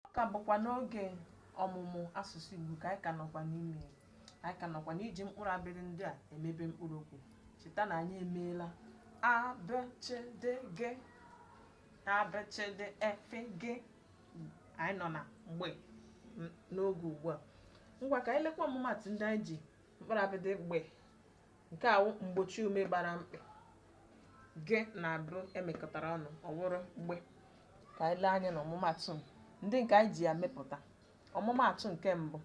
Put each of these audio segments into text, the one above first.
ọ ka bụkwa n'oge ọmụmụ asụsụ Igbo ka anyị ka nọkwa n'ime ya. anyị ka nọkwa n'iji mkpụrụ abịdịị ndị a emebe mkpụrụ okwu cheta na anyị emeela a b ch d g a b ch d e f g anyị nọ na gbe n- n'oge ugbu a ngwa ka anyị lekwa ọmụmatụ ndị anyị ji mkpụrụ abịdịị gbe Nke a wụ mgbochiume gbara mkpị g na b e mekọtara ọnụ ọ wụrụ gbe ka anyị lee anya na ọmụmatụ ndị nke anyị ji ya mepụta ọmụmatụ nke mbụ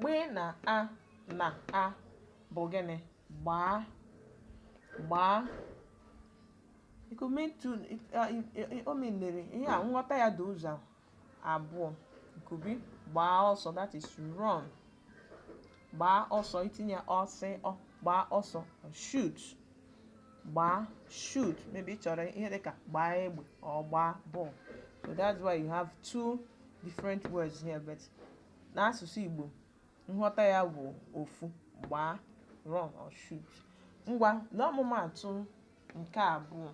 gbe na a na a bụ gịnị gbaa gbaa it could mean two o menere ihe a nghọta ya dị ụzọ abụọ it could be gbaa ọsọ that is run gbaa ọsọ i tinye ọsọ ọ gbaa ọsọ shoot gbaa shoot maybe ị chọrọ ihe dịka gbaa egbe or gbaa ball so that's why you have two different words here but n'asụsụ Igbo nghọta ya bụ ofu gbaa run or shoot ngwa lee ọmụmaatụ nke abụọ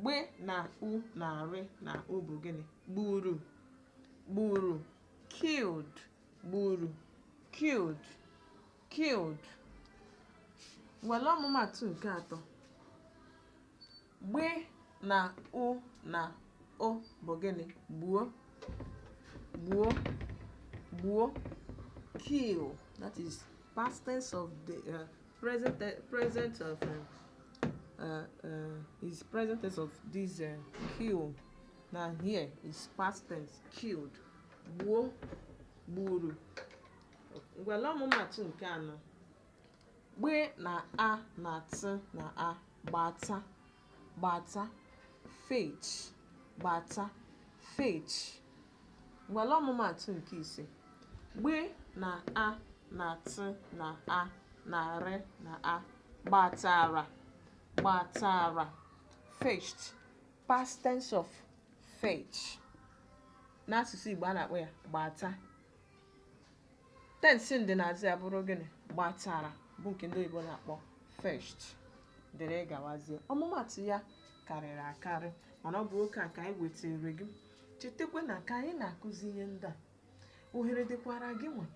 gbe na u na rị na o bụ gịnị gburu gburu killed gburu killed killed ngwa lee ọmụmatụ nke atọ gbe na u na o bụ gịnị gbuo gbuo gbuo kill that is past tense of the uh, Present, uh, present of uh, uh, uh, is present tense of this uh, kill. Now here is past tense killed. Gbuo, gburu. Ngwa lee ọmụmatụ nke anọ. Gbe na a na t na a gbata gbata fetch gbata fetch ngwa lee ọmụmaatụ nke ise gbe na a na tị na a na rị na a gbatara gbatara fetched past tense of fetch n'asụsụ Igbo a na-akpọ ya gbata tensị ndịnaazụ ya bụrụ gịnị gbatara bụ nke ndị oyibo na-akpọ fetched dịrị gawazie ọmụmatụ ya karịrị akarị mana ọ bụ oke a ka anyị wetara gị chetakwa na ka anyị na-akụzi ihe ndị a ohere dịkwara gị nwa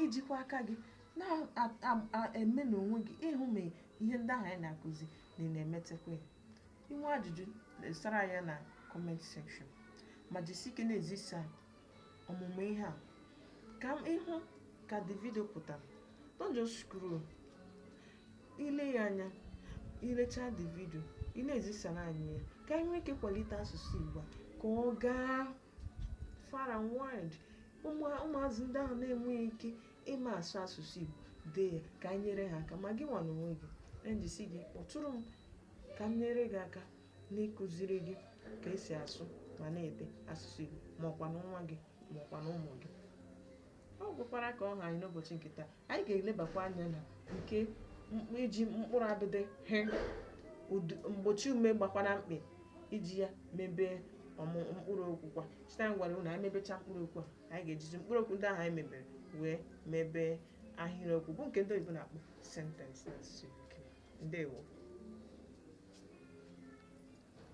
ijikwa aka gị na-eme n'onwe gị ịhụ ma ihe ndị ahụ anyị na-akụzi na ị na-emetakwa ya i nwee ajụjụ desara ya na comment section ma jisi ike na-ezisa ọmụmụ ihe a ka ị hụ ka the video pụtara don't just scroll i lee ya anya i lechaa the video ị na-ezisara anyị ya ka anyị nwee ike kwalite asụsụ Igbo ka ọ gaa far and wide ụmụazị ndị ahụ na-enweghị ike ịma asụ asụsụ Igbo dee ya ka anyị nyere ha aka ma gị nwa n'onwe gị jisie ike kpọtụrụ m ka m nyere gị aka n'ịkụziri gị ka e si asụ ma na-ede asụsụ Igbo ma ọ kwanụ nwa gị ma ọ kwanụ ụmụ gị ọ gwụkwara ka ọ ha anyị n'ụbọchị nke taa anyị ga-elebakwa anya na nke iji mkpụrụ abịdị he mgbochiume gbakwa na mkpị iji ya mebe mkpụrụ okwu kwa cheta anyị gwara unu anyị mebecha mkpụrụ okwu a anyị ga-ejizi mkpụrụ okwu ndị ahụ anyị mebere wee mebe ahịrịokwu bụ nke ndị oyibo na-akpọ sentence n'asụsụ Igbo ndewo